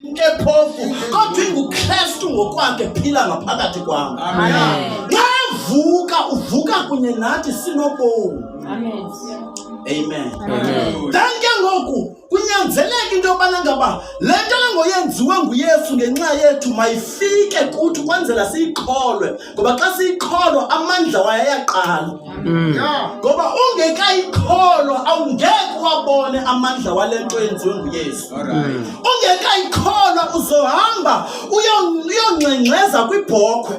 Ke phofu kodwa inguKristu ngokwakhe phila ngaphakathi kwam. Ngavuka uvuka kunye nathi sinobomi. Amen. Amen. Amen. Then ke ngoku kunyanzeleka into yobana ngaba le nto lengoyenziwe nguYesu ngenxa yethu mayifike kuthi ukwenzela siyikholwe. ngoba xa siyikholwa amandla wayo ayaqala mm. ngoba ungekayikholwa awungeke wabone amandla wale nto yenziwe nguyesu mm. ungekayikholwa uzohamba uyongxengxeza kwibhokhwe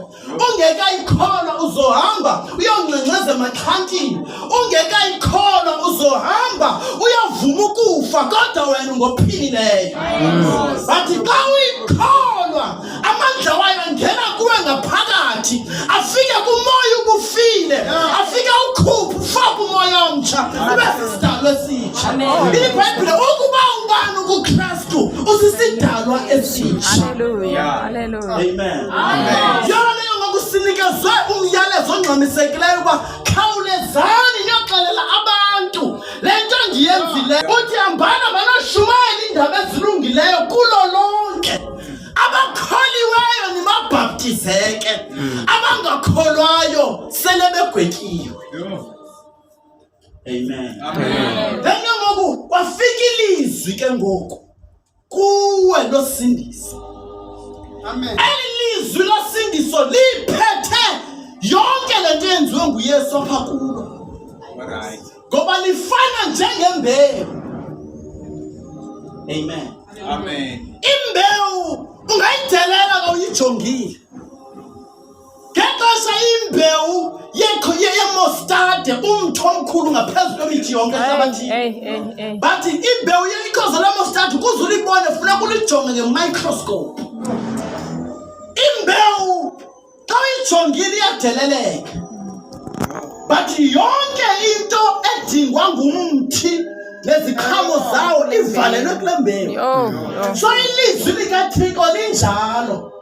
ungekayikholwa uzohamba uyongxengxeza emaxhantini ungekayikholwa uzohamba uyavuma ukufa kodwa wena ungophilileyo mm. but xa uyikholwa amandla wayo angena kuwe ngaphakathi afike kumoya ubufile afike ukhuphe ufake umoya omtsha ube sisidalwa esitsha ibhayibhile ukuba ubani ukukristu usisidalwa esitsha yona leyo ngokusinikezwe umyalezo ongxamisekileyo uba khawulezani niyoxelela abantu le nto ndiyenzileyo uthi hambana manoshumayela iindaba ezilungileyo kulo lonke abakholiweyo nibabhaptizeke mm. abangakholwayo sele begwetyiwe amen then ke ngoku kwafika ilizwi ke ngoku kuwe losindiso eli lizwi losindiso liphethe yonke le nto yenziwe nguyesu apha kulo ngoba lifana njengembewu amen amen imbewu ungayidelela kawuyijongile ngexesha imbewu yekho yemostade umtho omkhulu ngaphezu kwemithi yonke ehlabathini bathi imbewu yekhoza lemostade ukuze ulibone funeka ulijonge ngemicroscope imbewu Xa uyijongile iyadeleleka, but yonke into edingwa ngumthi neziqhamo zawo ivalelwe kule mbewu. So ilizwi likaThixo linjalo,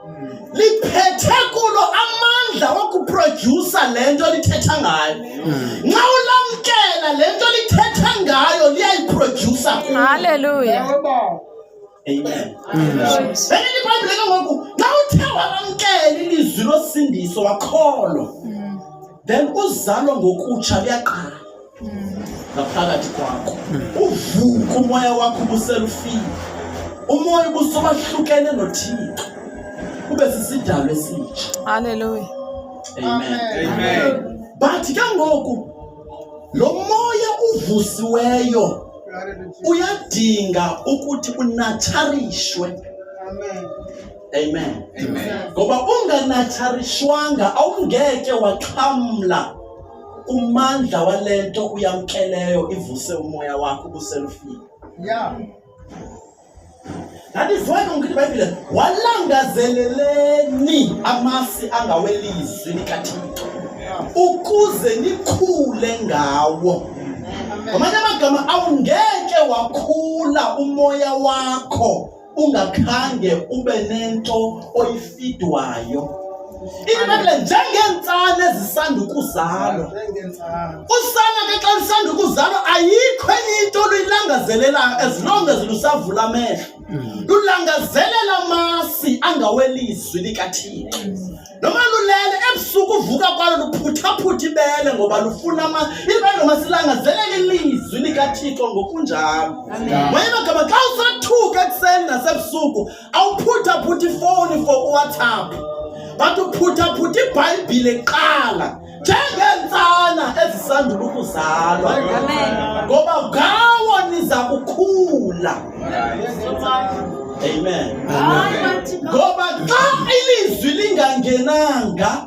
liphethe kulo amandla wokuprodyusa le nto lithetha ngayo. Nxa ulamkela le nto lithetha ngayo liyayiprodyusa kulo. Hallelujah. Benilibhayibhile ke ngoku xa uthe wamamkela ilizwi losindiso wakholwa then uzalo ngokutsha luyaqala ngaphakathi kwakho uvuka umoya wakho ubuselufile umoya ubusobahlukene nothixo ube sisidalo esitsha Hallelujah. amen Amen. bathi ke ngoku Lo moya uvusiweyo uyadinga ukuthi unatsharishwe. Amen. Amen. Amen. Ngoba unganatsharishwanga awungeke waxhamla umandla walento uyamkeleyo ivuse umoya wakho ubuselufika. Yeah. That is why ungithi iBhayibhile walangazeleleni amasi angawelizwi likaThixo ukuze nikhule ngawo. Ngamanye amagama awungeke wakhula umoya wakho ungakhange ube nento oyifidwayo Ibhayibhile njengeentsana ezisanda ukuzalwa. Usana ke xa lisanda ukuzalwa ayikho enye into oluyilangazelelayo as long as lusavula amehlo. Hmm. Lulangazelela amasi angawelizwi likaThixo. Noma lulele ebusuku uvuka kwalo luphuthaphutha ibele ngoba lufuna ama ibele noma silangazelela ilizwi likaThixo ngokunjalo. Wayena gama xa usathuka ekuseni nasebusuku awuphuthaphutha ifowuni for uwhatsapp but uphuthaphutha ibhayibhile kuqala njengeentsana ezisandula ukuzalwa ngoba ngawo niza kukhula amen ngoba xa ilizwi lingangenanga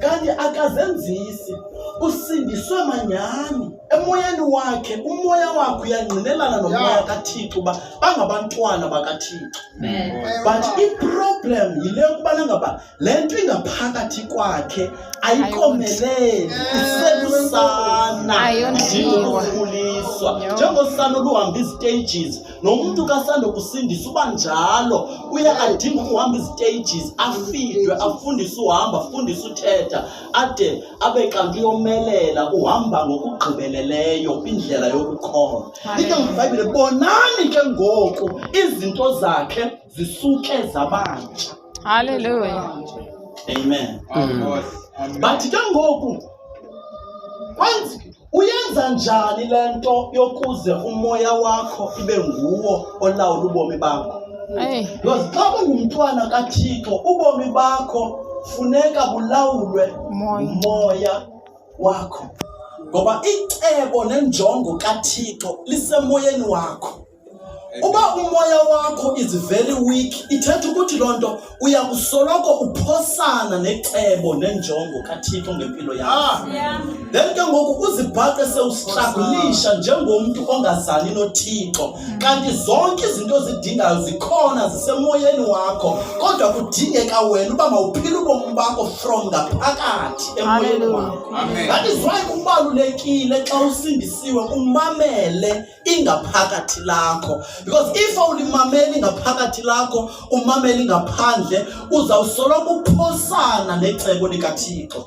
kanti akazenzisi usindiswe manyani emoyeni wakhe umoya wakhe uyangqinelana nomoya kathixo uba bangabantwana bakathixo but iproblem yile yokubana ngaba le nto ingaphakathi kwakhe ayikomeleli iselusana ndinokukhuliswa njengosana oluhamba izitages nomntu kasandokusindisa uba njalo uye adinga ukuhamba iziteyijizi afidwe afundise uhamba afundise uthetha ade abe kanti uyomelela uhamba ngokugqibeleleyo kwindlela yokukhona into ngibhayibhile bonani ke ngoku izinto zakhe zisuke zabantsha halleluya amen mm. bathi ke ngoku kwenzi Uyenza njani le nto yokuze umoya wakho ibe nguwo olawula ubomi bakho? Because xa ungumntwana kaThixo ubomi bakho funeka bulawulwe ngumoya wakho ngoba icebo nenjongo kaThixo lisemoyeni wakho. Uba umoya wakho is very weak, ithetha ukuthi loo nto uya kusoloko uphosana necebo nenjongo kaThixo ngempilo yakho. Ah. Then ke ngoku uzibhaqe sewusihlakulisha njengomntu ongazani noThixo. Kanti zonke izinto ozidingayo zikhona zisemoyeni wakho, kodwa kudingeka wena uba mawuphile ubomi bakho from ngaphakathi emoyeni wakho. That is why kubalulekile xa usindisiwe umamele ingaphakathi lakho because if awulimameli ngaphakathi lakho umameli ngaphandle uzawusoloko uphosana necebo likathixo